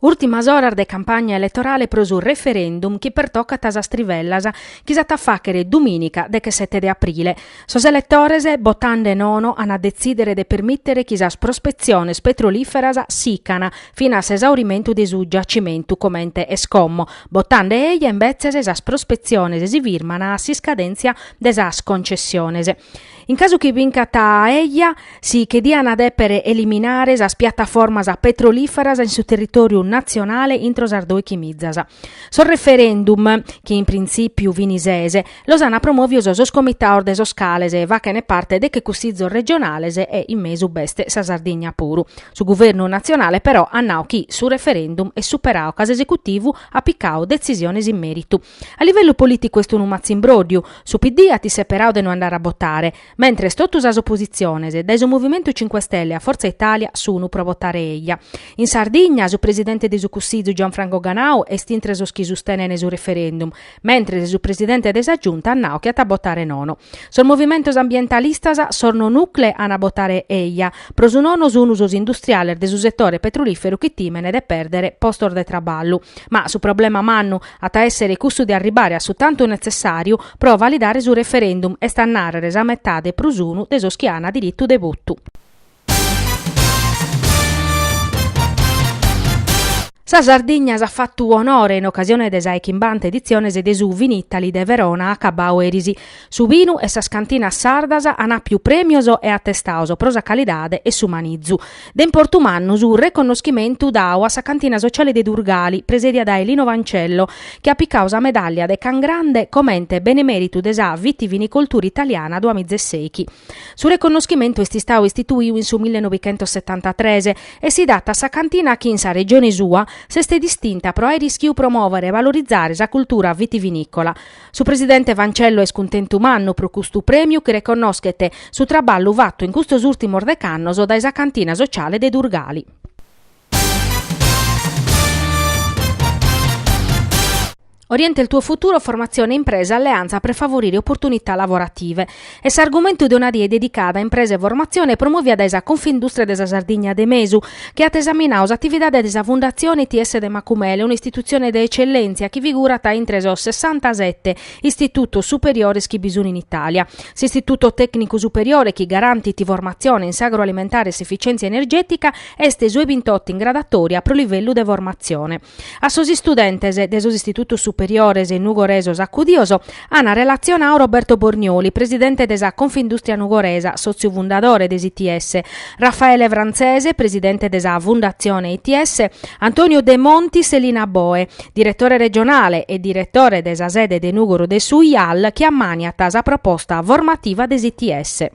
Ùrtimas oras de campagna eletorale pro su referendum chi pertocat sas trivellas chi s'at a fàghere dumìnica dechesete de aprile. Sos eletores, botande nono, ant a detzìdere de permìtere chi sas prospetziones petrolìferas sicana fin'a s'esaurimentu de su giacimentu comente est como. Botande eja, imbetzes, sas prospetziones si firman a s'iscadèntzia de sas concessiones. In casu chi bincat eja, si che diana dèpere eliminare sas piattaformas petrolìferas in su territòriu natzionale intro sas dòichi mizas. Sos referendum, chi in printzìpiu fini sese, los ana promòvios sos comitados de sos cales fachene parte deche cussizos regionales e in mesu b'est sa Sardigna puru. Su guvernu natzionale però at nau chi su referendum est superau ca s'esecutivu at picau detzisiones in mèritu. A livellu polìticu est unu matzimbróddiu, su PD at isseperau de no andare a botare, mentres totu sas opositziones, dae su Movimentu Cinque Stelle a Forza Italia, sunu pro botare eja. In Sardigna, su presidente de su Cussizu Gianfranco Ganau est intre sos chi sustenent su referendum, mentres su presidente de sa Giunta at nau chi at a botare nono. Sos movimentos ambientalistas, sos no nuke, an a botare eja. Pro su nono sunu sos industriales de su setore petrolìferu chi tìmene de pèrdere postos de traballu. Ma su problema mannu, At a èssere custu de arribare a su tantu netzessàriu pro validare su referendum, est a nàrrere sa metade prus unu de sos chi ant diritu de votu. Sa Sardigna s'at fatu onore in ocasione de sa e chimbanta editzione de su Vinitaly de Verona acabbau eris. Su binu e sas cantinas sardas an àpiu prèmios e atestaos pro sa calidade e su manizu. De importu mannu su reconnoschimentu dau a sa Cantina Sociale de Durgali, presèdia dae Lino Fancello, chi at picau sa medàllia de Cangrande comente Benemèritu de sa vitivinicoltura italiana duamizesèichi. Su reconnoschimentu est istau istituiu in su millenovichentossetantatres e si dat a sa cantina chi in sa regione sua s'est distinta pro àere ischiu promòvere e valorizare sa cultura vitivinìcola, Su presidente Fancello est cuntentu mannu pro custu prèmiu chi reconnoschet su traballu fatu in custos ùrtimos dec'annos dae sa cantina sociale de Durgali. Orienta il tuo futuro, formazione impresa, alleanza per favorire opportunità lavorative. est s'argumentu de una die dedicata a impresa e formatzione promovia dae sa Confindustria de sa Sardigna de Mesu, chi at esaminau s'atividade de sa Fundatzione ITS de Macumere, un'istitutzione de etzellèntzia chi figurat intre sos sessantasete istitutos superiores chi bi sunt in Itàlia, s'Istituto Tècnicu Superiore chi garantit formatzione in s'agroalimentare e s'efitzièntzia energètica est su e bintotto in graduatòria pro livellu de formatzione. A sos istudentes de sos istitutos superiores nugoresos acudios an relatzionadu Roberto Bornioli, presidente de sa Confindùstria Nugoresa, sòtziu fundadore de s'ITS, Raffaele Franzese, presidente de sa Fundatzione ITS, Antonio Demontis e Lina Boe, diretore regionale e diretore de sa sede de Nùgoro de su IAL, chi ammàniat sa proposta formativa de s'ITS.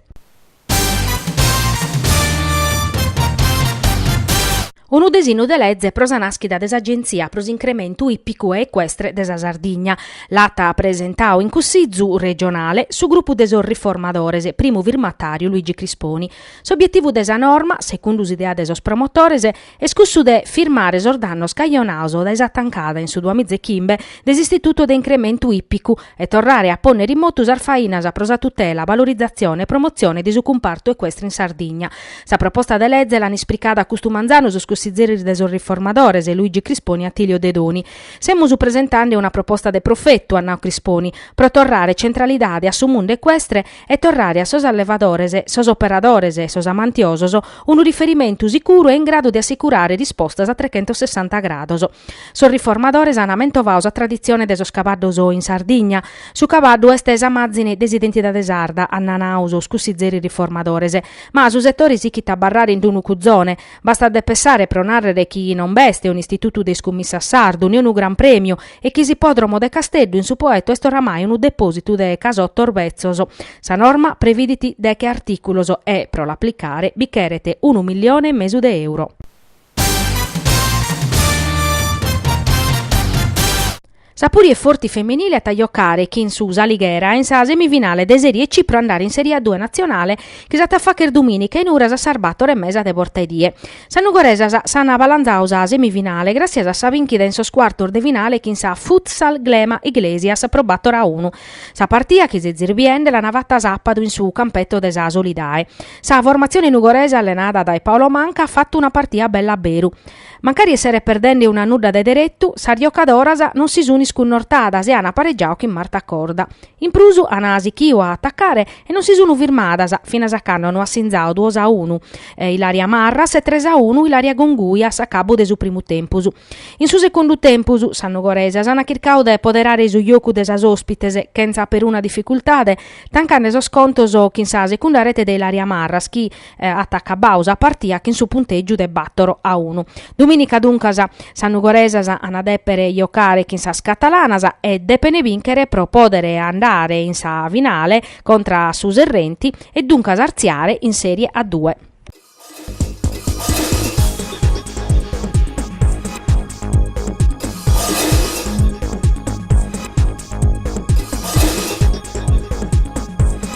Unu disinu de leze pro sa nàschida de s'Agentzia pro s'incrementu ìpicu e ecuestre de sa Sardigna l'at presentadu in Cussizu regionale su grupu de sos riformadores, primu firmatàriu Luigi Crisponi. S'obietivu de sa norma, segundu s'idea de sos promotores, Est cussu de firmare sos dannos cajonados dae sa tancada in su duamiza e chimbe de s'Istitutu de Incrementu Ippicu e torrare a pònnere in motu sas fainas pro sa tutela, valorizatzione e promotzione de su cumpartu ecuestre in Sardigna. Sa proposta de leze l'an ispricada custu manzanu sos cussizieris de sos Riformadores, Luigi Crisponi e Attilio Dedoni. Semus presentande una proposta de profetu, at nadu Crisponi, pro torrare centralidade a su mundu ecuestre e torrare a sos allevadores, sos operadores e sos amantiosos unu riferimentu sicuru e in gradu de assicurare rispostas a trechentossessanta grados. Sos riformadores an amentovadu sa traditzione de sos cabaddos in Sardigna. Su cabaddu est sa màzine de s'identidade sarda, an nanadu sos cussizeris riformadores. Ma su setore sichit a abarrare in d'unu cuzone. Bastat de pessare pro nàrrere chi non b'est un'istitutu de iscummissas sardu, ne unu gran prèmiu, e chi s'ippòdromo de Casteddu in su Poetto est oramai unu depòsitu de casottos betzos. Sa norma previdit deghe artìculos e, pro l'aplicare, bi cheret unu milione e mesu de euro. Sa Puri e Forti femenile at a jocare chin su S'Alighera in sa semifinale de Serie C pro andare in Serie A-Due Natzionale chi s'at a fàghere dumìnica in Uras a sas bator e mesa de borta 'e die. Sas nugoresas s'an balanzadu sa semifinale gràssias a sa binchida in sos cuartos de finale chin sa Futsal Glema Iglesias pro bator a unu. Sa partia chitzi zirbiende l'an fatta sapadu in su campeto de sa Solidae. Sa formatzione nugoresa allenada dae Paolo Manca at fattu una partia bella a beru. Mancari esseret perdende unu a nudda de deretu, sas giocadoras non si sun iscunnortadas e an aparegiadu chin Marta Corda. In prus an sichiu a atacare e non si sun firmadas finas a cando no at sinzadu duos a unu Ilaria Marras e tres a unu Ilaria Congiu a s'acabu de su primu tempus. In su segundu tempus sas nugoresas an chircadu de poderare su jocu de sas ospites chentza peruna dificultade, tancande sos contos chin sa segunda rete de Ilaria Marras chi, eh, at acabau sa partia chin su puntègiu de bàtoro a unu. Dumìnica duncas sas nugoresas ant a dèpere jocare chin sas catalanas e depene bìnchere pro pòdere andare in sa finale contra a su Serrenti e duncas artziare in Serie A Due.